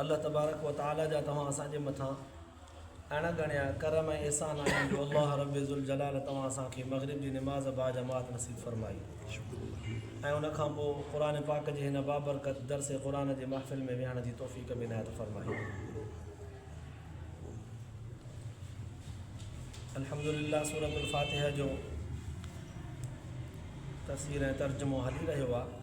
الله تبارڪ و تعالي جا توهان اسان جي مٿان اڻ ڳڻيا ڪرم ۽ احسان آهن جو الله رب ذوالجلال توهان اسان کي مغرب جي نماز باجماعت نصيب فرمائي ۽ ان کان پوء قرآن پاڪ جي هن بابرڪت درس قرآن جي محفل ۾ ويهڻ جي توفيق به عنايت فرمائي الحمدلله سورة الفاتحه جو تفسير ۽ ترجمو هلي رهيو آهي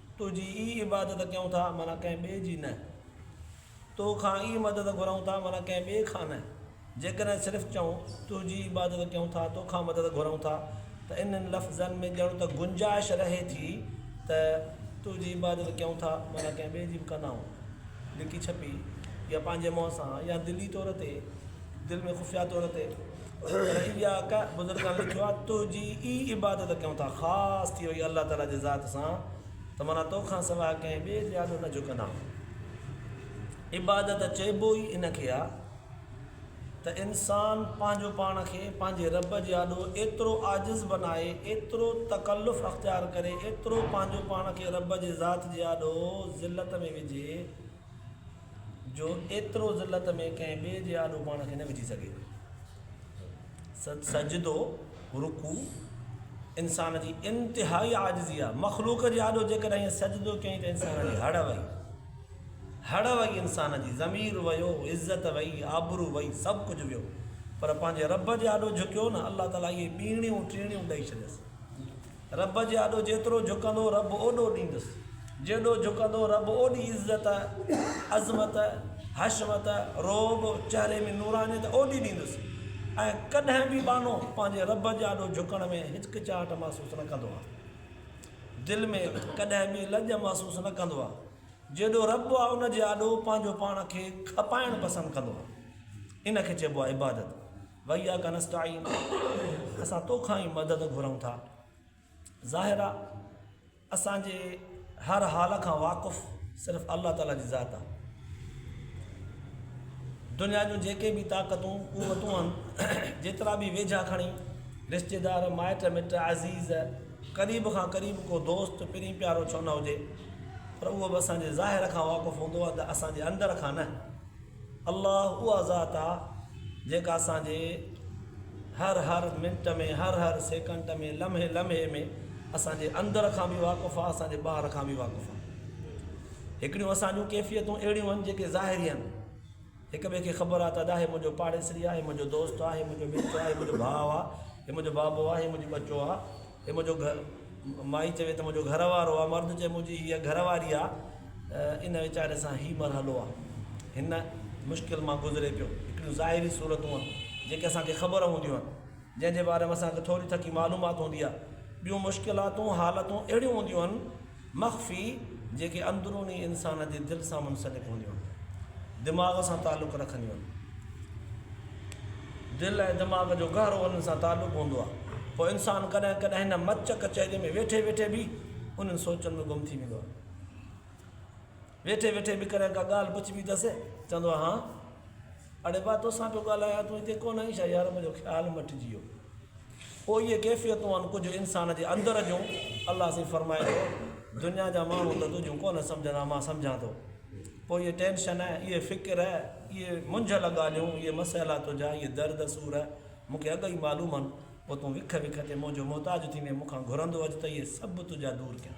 تنهنجي ئي عبادت ڪيون ٿا معنيٰ ڪنهن ٻئي جي نه. تو کان ئي مدد گهرئون ٿا معنيٰ ڪنهن ٻئي کان نه. جيڪڏهن صرف چئون، تنهنجي ئي عبادت ڪيون ٿا، تو کان مدد گهرئون ٿا ته انهن لفظن ۾ ڄڻ ته گنجائش رهي ٿي ته تنهنجي عبادت ڪيون ٿا معنيٰ ڪنهن ٻئي جي به ڪندائون. لڪي ڇپي يا پنهنجي منهن سان يا دلي طور تي، دل ۾ خفيه طور تي. جيڪي ٻيا اڪا بزرگان لکيو آ تنهنجي ئي عبادت ڪيون ٿا خاص ٿي وئي الله تعالي جي ذات سان ته معنيٰ تو کان سواء ڪنهن ٻئي جي آڏو نه جهڪندا آهيون عبادت چئبو ئي ان کي آ ته انسان پنهنجو پاڻ کي پنهنجي رب جي آڏو ايترو عاجز بنائي ايترو تڪلف اختيار ڪري ايترو پنهنجو پاڻ کي رب جي ذات جي آڏو ذلت ۾ وجهي جو ايترو ذلت ۾ ڪنهن ٻئي جي آڏو پاڻ کي نه وجهي سگهي. سجدو، رڪوع، انسان جي انتهائي عاجزي آهي. مخلوق جي آڏو جيڪڏهن ائين سجدو ڪيائين ته انسان جي هڙ وئي. هڙ وئي انسان جي، ضمير ويو، عزت وئي، آبرو وئي، سڀ ڪجهه ويو. پر پنهنجي رب جي آڏو جهڪيو نه، الله تعاليٰ اهي ٻيڻيون ٽيڻيون ڏئي ڇڏيس. رب جي آڏو جيترو جهڪندو رب اوڏو ڏيندس، جيڏو جهڪندو رب اوڏي عزت، عظمت، حشمت، رعب، چهري ۾ نورانيت اوڏي ڏيندس ۽ ڪڏهن به ٻانهو پنهنجي رب جي آڏو جهڪڻ ۾ هچڪچاهٽ محسوس نه ڪندو آهي. دل ۾ ڪڏهن به لڄ محسوس نه ڪندو آهي. جيڏو رب آهي ان جي آڏو پنهنجو پاڻ کي کپائڻ پسند ڪندو آهي. ان کي چئبو آهي عبادت. وَإِيَّاكَ نَسْتَعِينُ اسان تو کان ئي مدد گهرون ٿا. ظاهر آ اسان جي هر حال کان واقف صرف الله تعاليٰ جي ذات آ. دنيا جون جيڪي به طاقتون قوتون آهن جيترا به ويجها کڻي رشتيدار، مائٽ مٽ، عزيز، قريب کان قريب ڪو دوست، پرين پيارو ڇو نه هجي پر اهو به اسان جي ظاهر کان واقف هوندو آ ته اسان جي اندر کان نه. الله اها ذات آ جيڪا اسان جي هر هر منٽ ۾ هر هر سيڪنٽ ۾ لمحي لمحي ۾ اسان جي اندر کان به واقف آ اسان جي ٻاهر کان به واقف آ هڪڙيون اسان جون ڪيفيتون اهڙيون آهن جيڪي ظاهري آهن هڪ ٻئي کي خبر آ ته ادا هي منهنجو پاڙيسري آ هي منهنجو دوست آ هي منهنجو مٽ آ هي منهنجو ڀاء آ هي منهنجو بابو آ هي منهنجو ٻچو آ هي منهنجو گهر مائي چوي ته منهنجو گهر وارو آ مرد چوي منهنجي هيء گهر واري آ ان ويچاري سان هي مرحلو آ هن مشڪل مان گذري پيو هڪڙيون ظاهري صورتون آن جيڪي اسان کي خبر هونديون آن جنهن جي باري ۾ اسان کي ٿوري ٿڪي معلومات هوندي آ ٻيون مشڪلاتون حالتون اهڙيون هونديون آن مخفي، جيڪي اندروني انسان جي دل سان منسلڪ هونديون آهن. دماغ سان تعلق رکنديون آهن. دل ۽ دماغ جو گهرو انهن سان تعلق هوندو آهي. پوء انسان ڪڏهن ڪڏهن هن مچ ڪچهري ۾ ويٺي ويٺي به انهن سوچن ۾ گم ٿي ويندو آهي. ويٺي ويٺي به ڪڏهن ڪا ڳالهه بچبي تس، چوندو هو، هان! اڙي با! توسان پيو ڳالهايان، تون هتي ڪونه آهين ڇا؟ يار منهنجو خيال مٽجي ويو. پوء اهي ڪيفيتون آهن ڪجهه انسان جي اندر جون، الله سائين فرمائي ٿو، دنيا جا ماڻهو ته تنهنجون ڪونه سمجهندا، مان سمجهان ٿو. پوء اهي ٽينشن، اهي فڪر، اهي منجهيل ڳالهيون، اهي مسئلا تنهنجا، اهي درد سور مون کي اڳ ئي معلوم آهن، پوء تون وک وک تي منهنجو محتاج ٿيندين، مون کان گهرندو اچ ته اهي سڀ تنهنجا دور ڪيان.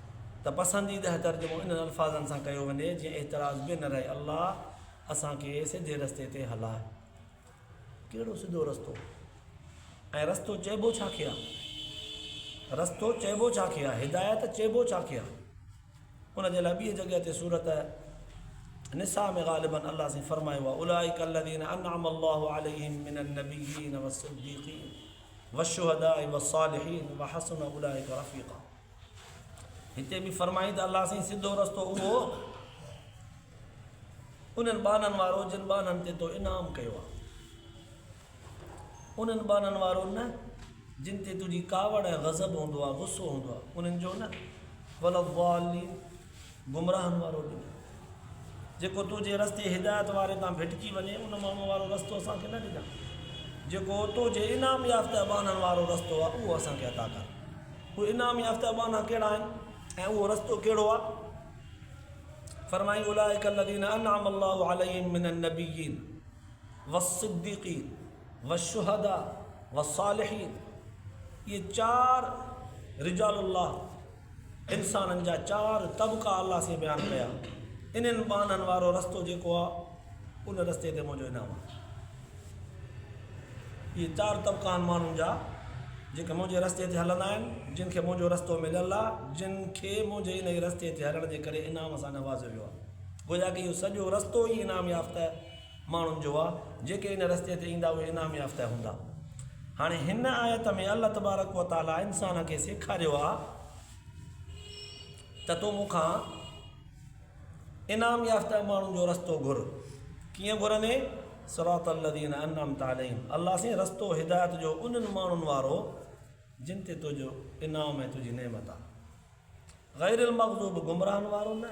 ته پسنديده ترجمو انهن الفاظن سان ڪيو وڃي جيئن اعتراض به نه رهي الله اسان کي سڌي رستي تي هلائي ڪهڙو سڌو رستو ۽ رستو چئبو ڇا کي آهي رستو چئبو ڇا کي آهي هدايت چئبو ڇا کي آهي ان جي لاء ٻي جڳهه تي صورت نساء ۾ غالبن الله سين فرمايو آهي اولائک الذين انعم الله عليهم من النبيين والصديقين والشهداء والصالحين وحسن اولئك رفيقا هتي به فرمائي ته الله سائين سڌو رستو اهو انهن ٻانهن وارو جن ٻانهن تي تو انعام ڪيو آهي انهن ٻانهن وارو نه جن تي تنهنجي ڪاوڙ ۽ غضب هوندو آهي غصو هوندو آهي انهن جو نه ولضالين گمراهن وارو ڏنئي. جيڪو تنهنجي رستي هدايت واري تان ڀٽڪي وڃي، ان ماڻهوء وارو رستو اسان کي نه ڏجانء. جيڪو تنهنجي انعام يافته اٻانهن وارو رستو آهي، اهو اسان کي عطا ڪر. اهي انعام يافته اٻانها ڪهڙا آهن ۽ اهو رستو ڪهڙو آهي؟ فرمائي، اولئک الذين انعم الله عليهم من النبيين والصديقين والشهداء والصالحين، اهي چار رجال الله، انسانن جا چار طبقا الله سين بيان ڪيا، انهن ٻانهن وارو رستو جيڪو آ، ان رستي تي منهنجو انعام آ. اهي چار طبقا آهن ماڻهن جا، جيڪي منهنجي رستي تي هلندا آهن، جن کي منهنجو رستو مليل آ، جن کي منهنجي ان ئي رستي تي هلڻ جي ڪري انعام سان نوازيو ويو آ. گويا ڪه اهو سڄو رستو ئي انعام يافته ماڻهن جو آهي جيڪي ان رستي تي ايندا اهي انعام يافته هوندا هاڻي هن آيت ۾ الله تبارڪ و تعالي انسان کي سيکاريو آهي ته تون مون کان انعام يافته ماڻهن جو رستو گهر ڪيئن گهرندي صراط الذين انعمت عليهم الله سين رستو هدايت جو انهن ماڻهن وارو جن تي تنهنجو انعام ۽ تنهنجي نعمت آهي غير المغضوب گمراهن وارو نه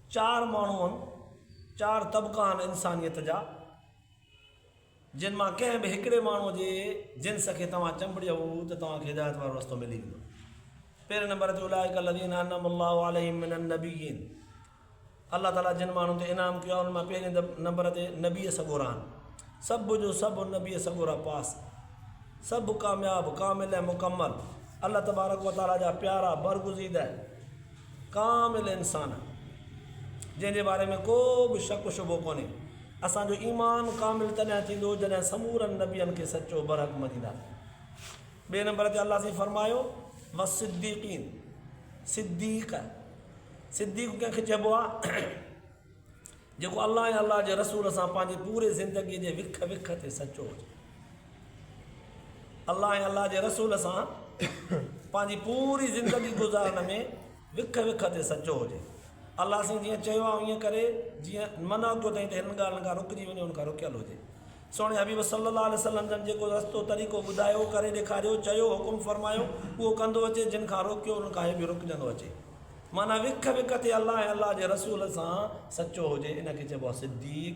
چار ماڻهو هن، چار طبقا هن انسانيت جا، جن مان ڪنهن به هڪڙي ماڻهو جي جنس کي توهان چنبڙيو ته توهان کي هدايت وارو رستو ملي ويندو. پهرين نمبر تي اولئک الذين انعم الله عليهم من النبيين الله تعاليٰ جن ماڻهن تي انعام ڪيو آهي انهن مان پهرين نمبر تي نبي سڳورا آهن. سڀ جو سڀ نبي سڳورا پاس، سڀ ڪامياب، ڪامل ۽ مڪمل، الله تبارڪ و تعاليٰ جا پيارا، برگزيده، ڪامل انسان جنهن جي باري ۾ ڪو به شڪ و شبهو ڪونهي. اسان جو ايمان ڪامل تڏهن ٿيندو جڏهن سمورن نبين کي سچو برحق مڃينداسين. ٻئي نمبر تي الله سائين فرمايو، والصديقين، صديق، صديق ڪنهن کي چئبو آهي؟ جيڪو الله ۽ الله جي رسول سان پنهنجي پوري زندگي جي وک وک تي سچو هجي. الله ۽ الله جي رسول سان پنهنجي پوري زندگي گذارڻ ۾ وک وک تي سچو هجي. الله سين جيئن چيو آهي ايئن ڪري، جيئن منع ڪيو اٿئي ته هنن ڳالهين کان رڪجي وڃي ان کان رڪيل هجي. سهڻي حبيب صلّي الله عليه وسلّم جن جيڪو رستو طريقو ٻڌايو، ڪري ڏيکاريو، چيو، حڪم فرمايو، اهو ڪندو اچي، جن کان روڪيو انهن کان هي به رڪجندو اچي. معنيٰ وک وک تي الله ۽ الله جي رسول سان سچو هجي ان کي چئبو آهي صديق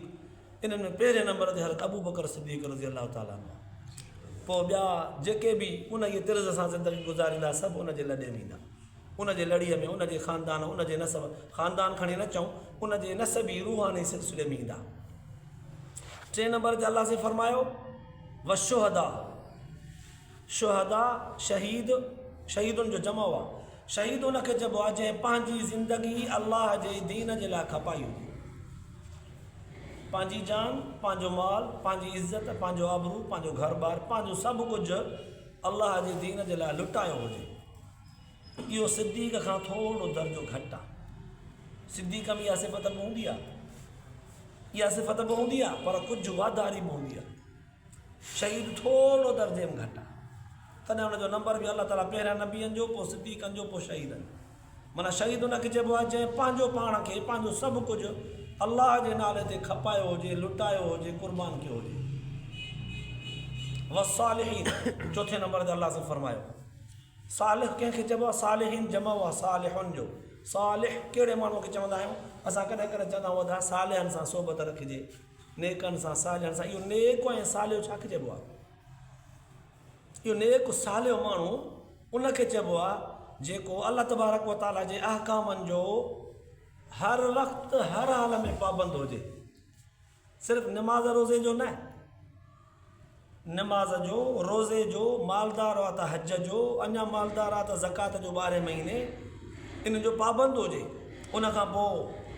انهن ۾ پهرين نمبر تي حضرت ابو بڪر صديق رضي الله تعالٰي عنه پوء ٻيا جيڪي به ان جي طرز سان زندگي گذاريندا سڀ ان جي لڏي ويندا ان جي لڙيء ۾ ان جي خاندان ان جي نسب خاندان کڻي نه چئون ان جي نسب ئي روحاني سلسلي ۾ ايندا ٽئين نمبر تي الله سائين فرمايو وشهدا شهداء، شهيد، شهيدن جو جمع هئا. شهيد ان کي چئبو آهي جنهن پنهنجي زندگي الله جي دين جي لاء کپائي هجي. پنهنجي جان، پنهنجو مال، پنهنجي عزت، پنهنجو آبرو، پنهنجو گهر ٻار، پنهنجو سڀ ڪجهه الله جي دين جي لاء لٽايو هجي. اهو صديق کان ٿورو درجو گهٽ آهي. صديق ۾ اها صفت به هوندي آهي. اها صفت به هوندي آهي پر ڪجهه واڌاري به هوندي آهي. شهيد ٿورڙو درجي ۾ گهٽ آ تڏهن ان جو نمبر به الله تعالي پهريان نبين جو پو صديقن جو پو شهيدن جو معنيٰ شهيد ان کي چئبو آ جنهن پنهنجو پاڻ کي پنهنجو سڀ ڪجهه الله جي نالي تي کپايو هجي لٽايو هجي قربان ڪيو هجي والصالحين چوٿين نمبر تي الله سب فرمايو صالح ڪنهن کي چئبو آ صالحين جمع آ صالحن جو صالح ڪهڙي ماڻهو کي چوندا آهيون اسان ڪڏهن ڪڏهن چوندا آهيون ادا صالحن سان صحبت رکجي نيڪن سان صالحن سان اهو نيڪ ۽ صالح ڇا کي چئبو آهي اهو نيڪ صالح ماڻهو ان کي چئبو آهي جيڪو الله تبارڪ و تعالي جي احڪامن جو هر وقت هر حال ۾ پابند هجي صرف نماز روزي جو نه نماز جو، روزي جو، مالدار آ ته حج جو، اڃا مالدار آ ته زڪوات جو ٻارهين مهيني ان جو پابند هجي، ان کان پوء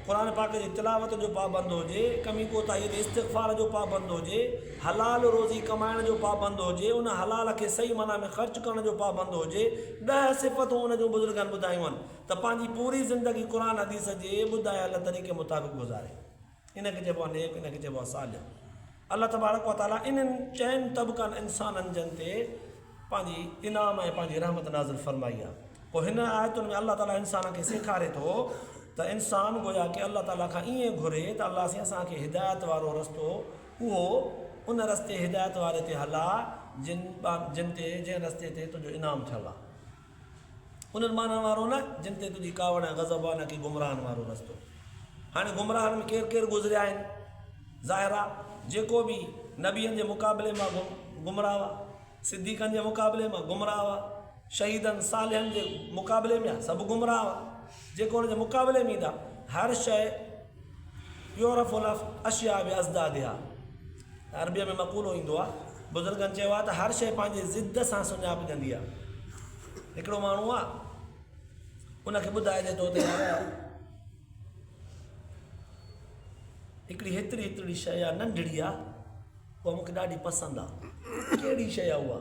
قرآن پاڪ جي تلاوت جو پابند هجي، ڪمي ڪوتاهي تي استغفار جو پابند هجي، حلال روزي ڪمائڻ جو پابند هجي، ان حلال کي صحيح معنيٰ ۾ خرچ ڪرڻ جو پابند هجي، ڏهه صفتون ان جون بزرگن ٻڌايون آهن ته پنهنجي پوري زندگي قرآن حديث جي ٻڌايل طريقي مطابق گذاري. ان کي چئبو آهي نيڪ ان کي چئبو آهي صالح الله تبارڪ و تعالي انهن چئن طبقن انسانن جن تي پنهنجي انعام ۽ پنهنجي رحمت نازل فرمائي آهي پوء هن آيتن ۾ الله تعالي انسان کي سيکاري ٿو ته انسان گويا ڪي الله تعالي کان ائين گهري ته الله سين اسان کي هدايت وارو رستو اهو ان رستي هدايت واري تي هلا جن جن تي جنهن رستي تي تنهنجو انعام ٿيل آهي انهن ماڻهن وارو نه، جن تي تنهنجي ڪاوڙ ۽ غضب آ، نه ڪي گمراهن وارو رستو. هاڻي گمراهن ۾ ڪير ڪير گذريا آهن؟ ظاهر آ، جيڪو به نبين جي مقابلي مان گمراهه هئا، صديقن جي مقابلي مان گمراهه هئا، شهيدن، صالحن جي مقابلي ۾، سڀ گمراهه هئا. جيڪي ان جي مقابلي ۾ ايندا، هر شيء يعرف الاشياء باضدادها. عربيء ۾ مقولو ايندو آهي، بزرگن چيو آهي ته هر شيء پنهنجي ضد سان سڃاپجندي آهي. هڪڙو ماڻهو آهي، ان کي ٻڌائجي ٿو ته يار هڪڙي هيتري هيترڙي شيء آهي، ننڍڙي آهي، اها مون کي ڏاڍي پسند آهي. ڪهڙي شيء آهي اها؟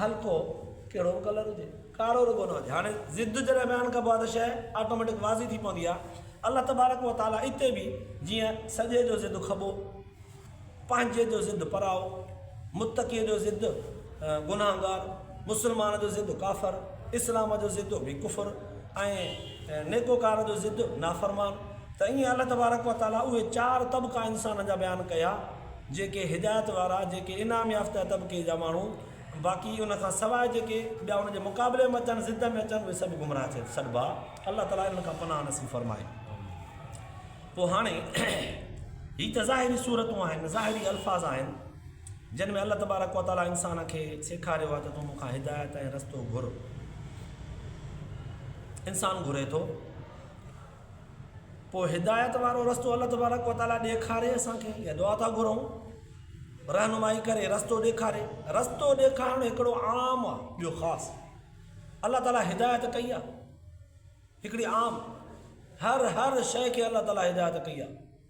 هلڪو ڪهڙو به ڪلر هجي ڪارو رڳو نه هجي هاڻي ضد جڏهن بيان ڪبو آهي ته شيء آٽوميٽڪ واضح ٿي پوندي آهي الله تبارڪ و تعالي اتي به جيئن سڄي جو ضد کٻو پنهنجي جو ضد پرائو متقي جو ضد گناهگار مسلمان جو ضد ڪافر اسلام جو ضد به ڪفر ۽ نيڪوڪار جو ضد نافرمان ته ائين الله تبارڪ و تعالي اهي چار طبقا انسان جا بيان ڪيا جيڪي هدايت وارا، جيڪي انعام يافته طبقي جا ماڻهو، باقي ان کان سواء جيڪي ٻيا ان جي مقابلي ۾ اچن، ضد ۾ اچن، اهي سڀ گمراهه ٿي سڏبا. الله تعاليٰ انهن کان پناهه نصيب فرمائي. پوء هاڻي هي ته ظاهري صورتون آهن، ظاهري الفاظ آهن، جن ۾ الله تبارڪ و تعاليٰ انسان کي سيکاريو آهي ته تون مون کان هدايت ۽ رستو گهر. انسان گهري ٿو. پوء هدايت وارو رستو الله تبارڪ و تعالي ڏيکاري اسان کي اها دعا ٿا گهرون رهنمائي ڪري رستو ڏيکاري رستو ڏيکارڻ هڪڙو عام آ ٻيو خاص الله تعالي هدايت ڪئي آ هڪڙي عام هر هر شئي کي الله تعالي هدايت ڪئي آ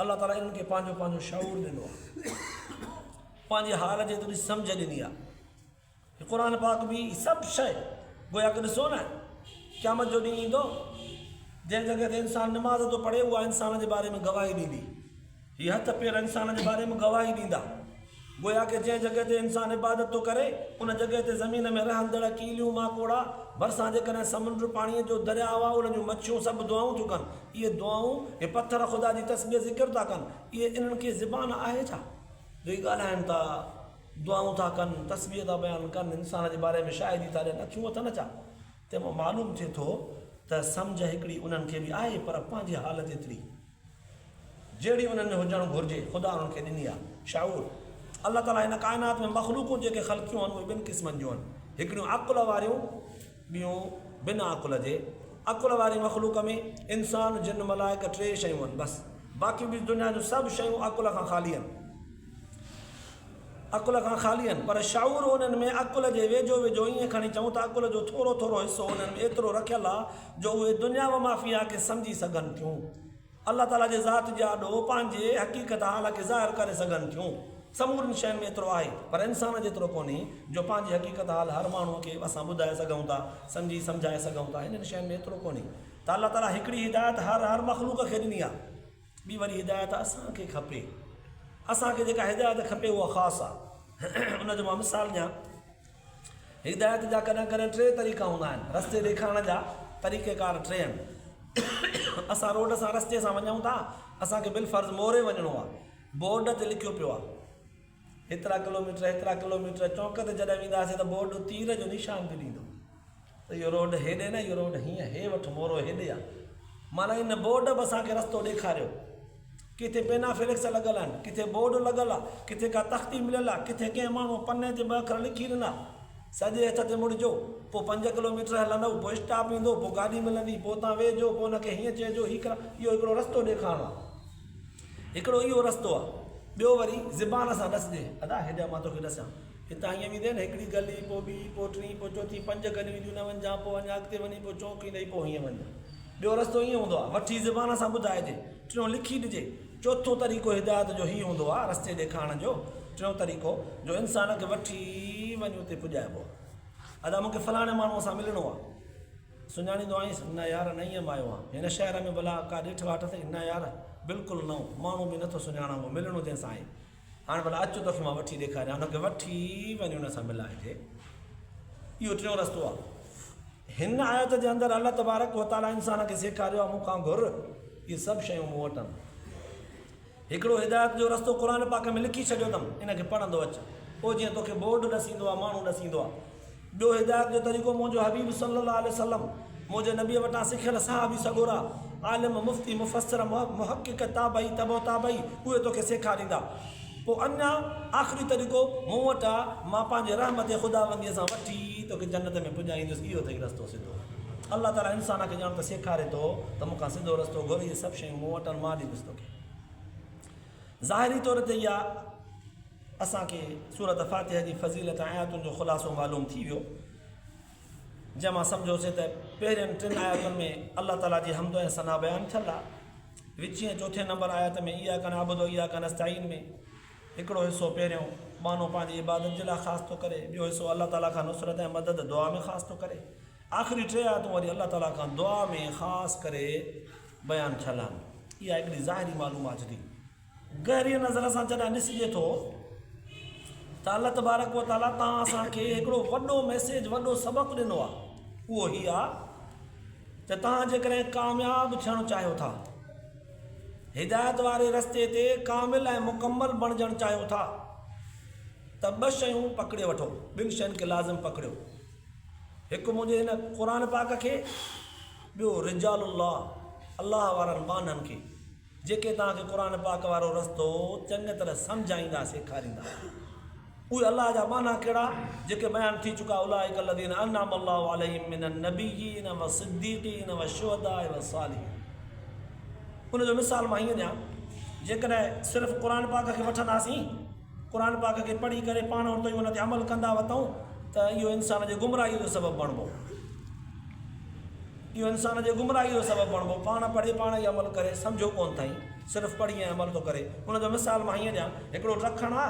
الله تعاليٰ انهن کي پنهنجو پنهنجو شعور ڏنو آهي پنهنجي حال جي ٿوري سمجهه ڏني آهي قرآن پاڪ به سڀ شيء گويا ڪه ڏسو نه قيامت جو ڏينهن ايندو جنهن جڳهه تي انسان نماز ٿو پڙهي اها انسان جي باري ۾ گواهي ڏيندي هي هٿ پير انسان جي باري ۾ گواهي ڏيندا گويا ڪي جنهن جڳهه تي انسان عبادت ٿو ڪري، ان جڳهه تي زمين ۾ رهندڙ ڪيليون، ماڪوڙا، ڀرسان جيڪڏهن سمنڊ، پاڻيء جو درياء آ، انهن جون مڇيون سڀ دعائون ٿيون ڪن. اهي دعائون، اهي پٿر خدا جي تسبيح ذڪر ٿا ڪن. اهي، انهن کي زبان آهي ڇا؟ جو اهي ڳالهائن ٿا، دعائون ٿا ڪن، تسبيح ٿا بيان ڪن، انسان جي باري ۾ شاهدي ٿا ڏين، اکيون اٿن ڇا؟ تنهن مان معلوم ٿئي ٿو ته سمجهه هڪڙي انهن کي به آهي، پر پنهنجي حالت ايتري. جهڙي انهن ۾ هجڻ گهرجي، خدا انهن کي ڏني آهي. شعور، الله تعاليٰ هن ڪائنات ۾ مخلوقون جيڪي خلقيون آهن اهي ٻن قسمن جون آهن، هڪڙيون عقل واريون ٻيون بنا عقل جي. عقل واري مخلوق ۾ انسان، جن، ملائڪ ٽي شيون آهن بس، باقي ٻيون دنيا جون سڀ شيون عقل کان خالي آهن. عقل کان خالي آهن، پر شعور انهن ۾ عقل جي ويجهو ويجهو ائين کڻي چئون ته عقل جو ٿورو ٿورو حصو انهن ۾ ايترو رکيل آهي جو اهي دنيا وما فيها کي سمجهي سگهن ٿيون. الله تعاليٰ جي ذات جي آڏو پنهنجي حقيقت حال کي ظاهر ڪري سگهن ٿيون. سمورين شين ۾ ايترو آهي، پر انسان جيترو ڪونهي، جو پنهنجي حقيقت حال هر ماڻهوء کي اسان ٻڌائي سگهون ٿا، سمجهي سمجهائي سگهون ٿا. هنن شين ۾ ايترو ڪونهي ته الله تعاليٰ هڪڙي هدايت هر هر مخلوق کي ڏني آهي. ٻي وڏي هدايت اسان کي کپي. اسان کي جيڪا هدايت کپي اها خاص آ. ان جو مان مثال ڏيان. هدايت جا ڪڏهن ڪڏهن ٽي طريقا هوندا آهن. رستي ڏيکارڻ جا طريقه ڪار ٽي آهن. اسان روڊ سان رستي سان وڃون ٿا. اسان کي بالفرض موري وڃڻو آ. بورڊ تي لکيو پيو آ. هيترا ڪلوميٽر هيترا ڪلوميٽر چونڪ تي جڏهن وينداسين ته بورڊ تير جو نشان به ڏيندو ته اهو روڊ هيڏي نه اهو روڊ هيئن هي وٺ مورو هيڏي آ معنيٰ ان بورڊ به اسان کي رستو ڏيکاريو ڪٿي پينا فليڪس لڳل آهن ڪٿي بورڊ لڳل آ ڪٿي ڪا تختي مليل آ ڪٿي ڪنهن ماڻهو پني تي ٻه اکر لکي ڏنا سڄي هٿ تي مڙجو پوء پنج ڪلوميٽر هلندؤ پوء اسٽاپ ايندو پوء گاڏي ملندي پوء اتان ويهجو پوء ان کي هيئن چئجو هي ڪرا اهو هڪڙو رستو ڏيکارڻو آ هڪڙو اهو رستو آ ٻيو وري زبان سان ڏس ڏي ادا هيڏانهن مان توکي ڏسان هتان هيئن ويندين هڪڙي گلي پو ٻي پو ٽين پو چوٿين پنج گليون اينديون نه وڃجان پو اڃا اڳتي وڃي پو چونڪ ايندئي پو هيئن وڃجان ٻيو رستو ايئن هوندو آ وٺي زبان سان ٻڌائجي ٽيون لکي ڏجي چوٿون طريقو هدايت جو هي هوندو آ رستي ڏيکارڻ جو ٽيون طريقو جو انسان کي وٺي وڃي اتي پڄائبو آ ادا مونکي فلاڻي ماڻهوء سان ملڻو آ. سڃاڻيندو آهينس نه يار نئين ام آيو آهيان هن شهر ۾ ڀلا ڪا ڏٺ واٽ اٿئي نه يار بلڪل نئون ماڻهو به نٿو سڃاڻان اهو ملڻو جنهن سان آهي هاڻ ڀلا اچ توکي مان وٺي ڏيکاريان ان کي وٺي وڃ ان سان ملائجي اهو ٽيون رستو آهي هن آيت جي اندر الله تبارڪ وتعاليٰ انسان کي سيکاريو آهي مون کان گهر اهي سڀ شيون مون وٽ آهن هڪڙو هدايت جو رستو قرآن پاڪ ۾ لکي ڇڏيو اٿم ان کي پڙهندو اچ پوء جيئن توکي بورڊ ڏسيندو آهي ماڻهو ڏسيندو آهي ٻيو هدايت جو طريقو منهنجو حبيب صلي الله عليه وسلم منهنجي نبي وٽان سکيل صحابي سڳورا عالم مفتي مفسر محقق تابعي تبع تابعي اهي توکي سيکاريندا پوء اڃا آخري طريقو مون وٽ آ مان پنهنجي رحمت خداونديء سان وٺي توکي جنت ۾ پڄائيندس اهو اٿئي رستو سڌو الله تعالي انسان کي ڄاڻ ته سيکاري ٿو ته مون کان سڌو رستو گهر اهي سڀ شيون مون وٽ آهن مان ڏيندس توکي ظاهري طور تي اها اسان کي سورت فاتحه جي فضيلت ۽ آياتن جو خلاصو معلوم ٿي ويو جنهن مان سمجهوسي ته پهرين ٽن آياتن ۾ الله تعاليٰ جي حمد ۽ ثنا بيان ٿيل آ وچين چوٿين نمبر آيات ۾ ايا ڪن عبد ايا ڪن استعين ۾ هڪڙو حصو پهريون بانو پنهنجي عبادت جي لاء خاص ٿو ڪري ٻيو حصو الله تعاليٰ کان نصرت ۽ مدد دعا ۾ خاص ٿو ڪري آخري ٽي آياتون وري الله تعاليٰ کان دعا ۾ خاص ڪري بيان ڇلانگ اها هڪڙي ظاهري معلومات ڏي. گهريء نظر سان جڏهن ڏسجي ٿو ته الله تبارڪ و تعاليٰ تان اسان کي هڪڙو وڏو ميسيج وڏو سبق ڏنو آهي اهو هي آهي ته تان جيڪڏهن ڪامياب ٿيڻ چاهيو ٿا هدايت واري رستي تي ڪامل ۽ مڪمل بڻجڻ چاهيو ٿا ته ٻه شيون پڪڙي وٺو ٻن شين کي لازم پڪڙيو هڪ منهنجي هن قرآن پاڪ کي ٻيو رجال الله، الله وارن ٻانهن کي، جيڪي توهان کي قرآن پاڪ وارو رستو چڱيء طرح سمجهائيندا، سيکاريندا. اهي الله جا ٻانها ڪهڙا، جيڪي بيان ٿي چڪا، اولئک الذين انعم الله عليهم من النبيين والصديقين والشهداء والصالحين. ان جو مثال مان هيئن ڏيان، جيڪڏهن صرف قرآن پاڪ کي وٺنداسين، قرآن پاڪ کي پڙهي ڪري پاڻ ورتو ۽ ان تي عمل ڪندا وتئون ته اهو انسان جي گمراهيء جو سبب بڻبو. اهو انسان جي گمراهيء جو سبب بڻبو. پاڻ پڙهي پاڻ ئي عمل ڪري سمجهيو ڪونه ٿئي، صرف پڙهي ۽ عمل ٿو ڪري. ان جو مثال مان هيئن ڏيان، هڪڙو لکڻ آ،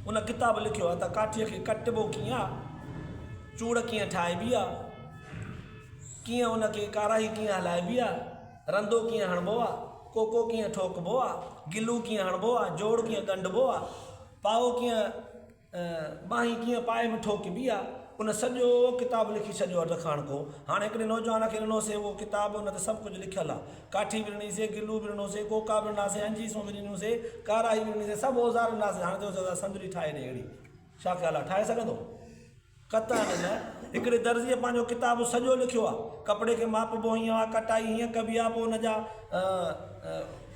ان ڪتاب لکيو آ ته ڪاٺيء کي ڪٽبو ڪيئن آ، چوڙ ڪيئن ٺاهبي آ، ڪيئن ان کي ڪارائي ڪيئن هلائبي آ. رندو ڪيئن هڻبو آ، ڪوڪو ڪيئن ٺوڪبو آ، گلو ڪيئن هڻبو آ، جوڙ ڪيئن ڳنڍبو آ، پائو ڪيئن ٻانهين ڪيئن پائي ۾ ٺوڪبي آ، ان سڄو ڪتاب لکي ڇڏيو اٽ کاڻڪو. هاڻ هڪڙي نوجوان کي ڏنو سي اهو ڪتاب، ان تي سڀ ڪجهه لکيل آ. ڪاٺي به ڏني سي، گلو به ڏنو سي، ڪوڪا به ڏنا سي، انجيسون به ڏنيون سي، ڪارائي به ڏني سي، سڀ اوزار ڏنا سي، هاڻ چيو سي سندري ٺاهي ڏي اهڙي. ڇا خيال آ، ٺاهي سگهندو؟ قطعاً نه. هڪڙي درزيء پنهنجو ڪتاب سڄو لکيو آهي. ڪپڙي کي ماپبو هيئن آهي، ڪٽائي هيئن ڪبي آهي، پوء ان جا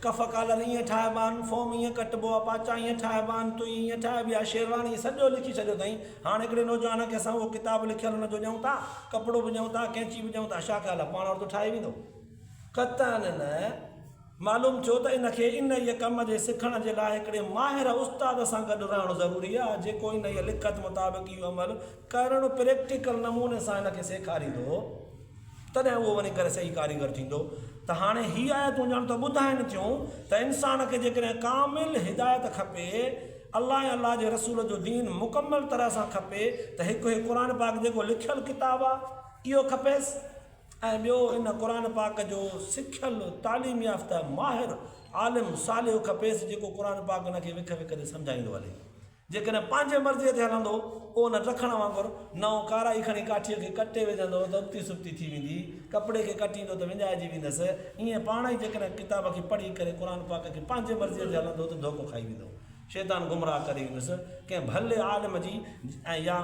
ڪف ڪالر ايئن ٺاهبا آهن، فوم ايئن ڪٽبو آهي، پاچا ايئن ٺاهبا آهن، تئي ايئن ٺاهبي آهي، شيرواني، سڄو لکي ڇڏيو اٿائين. هاڻ هڪڙي نوجوان کي اسان اهو ڪتاب لکيل ان جو ڏيون ٿا، ڪپڙو به ڏيون ٿا، ڪينچي به ڏيون ٿا، ڇا خيال آهي، پاڻ اهڙو ٿو ٺاهي ويندو؟ قطعاً نه. معلوم ٿيو ته ان کي انهيء ڪم جي سکڻ جي لاء هڪڙي ماهر استاد سان گڏ رهڻ ضروري آهي، جيڪو انهيء لکت مطابق اهو عمل ڪرڻ پريڪٽيڪل نموني سان هن کي سيکاريندو، تڏهن اهو وڃي ڪري صحيح ڪاريگر ٿيندو. ته هاڻي هي آيتون ڄڻ ته ٻڌائين ٿيون ته انسان کي جيڪڏهن ڪامل هدايت کپي، الله ۽ الله جي رسول جو دين مڪمل طرح سان کپي ته هڪ هي قرآن پاڪ جيڪو لکيل ڪتاب آهي، اهو کپيس. ۽ ٻيو ان قرآن پاڪ جو سکيل، تعليم يافته، ماهر، عالم، صالح کپيس جيڪو قرآن پاڪ ان کي وک وک تي سمجهائيندو هلي. جيڪڏهن پنهنجي مرضيء تي هلندو پوء ان ٽرکڻ وانگر نئون ڪارائي کڻي ڪاٺيء کي ڪٽي وجهندو ته ابتي سبتي ٿي ويندي، ڪپڙي کي ڪٽيندو ته وڃائجي ويندس. ائين پاڻ ئي جيڪڏهن ڪتاب کي پڙهي ڪري قرآن پاڪ کي پنهنجي مرضيء تي هلندو ته ڌوڪو کائي ويندو. شيطان گمراهه ڪري ويندس ڪنهن ڀلي عالم جي ۽ يا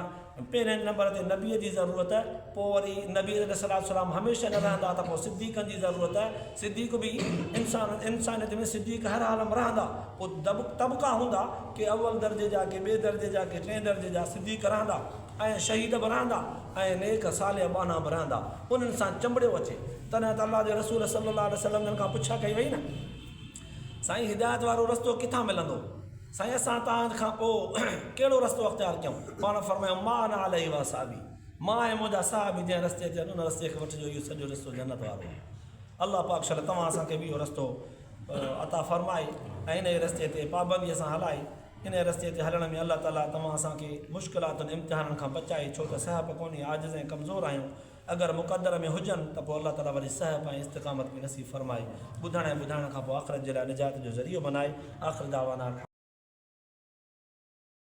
پهرين نمبر تي نبي جي ضرورت پوء وري نبي عليه الصلوة والسلام هميشه نه رهندا ته پوء صديقن جي ضرورت صديق به انسان انسانيت ۾ صديق هر حال م رهندا پوء طبقا هوندا ڪي اول درجي جا ڪي ٻئي درجي جا ڪي ٽئين درجي جا صديق رهندا ۽ شهيد به رهندا ۽ نيڪ صالح ٻانها به رهندا انهن سان چنبڙيو اچي تڏهن ته الله جي رسول صلي الله عليه وسلم جن کان پڇا ڪئي وئي نه سائين هدايت وارو رستو ڪٿان ملندو؟ سائين اسان توهان کان پوء ڪهڙو رستو اختيار ڪيون؟ پاڻ فرمايو ما انا عليه واصحابي مان ۽ منهنجا صحابي جنهن رستي تي آهن ان رستي کي وٺجو اهو سڄو رستو جنت وارو آهي الله پاڪ شل توهان اسان کي به اهو رستو عطا فرمائي ۽ انهي رستي تي پابندي سان هلائي انهي رستي تي هلڻ ۾ الله تعالي توهان اسان کي مشڪلاتن امتحانن کان بچائي ڇو ته سهپ ڪونهي عاجز ۽ ڪمزور آهيون اگر مقدر ۾ هجن ته پوء الله تعاليٰ وري صحف ۽ استقامت به نصيب فرمائي ٻڌڻ ۽ ٻڌائڻ کان پوء آخرت جي لاء نجات جو ذريعو بنائي آخر دعوانا الحمد.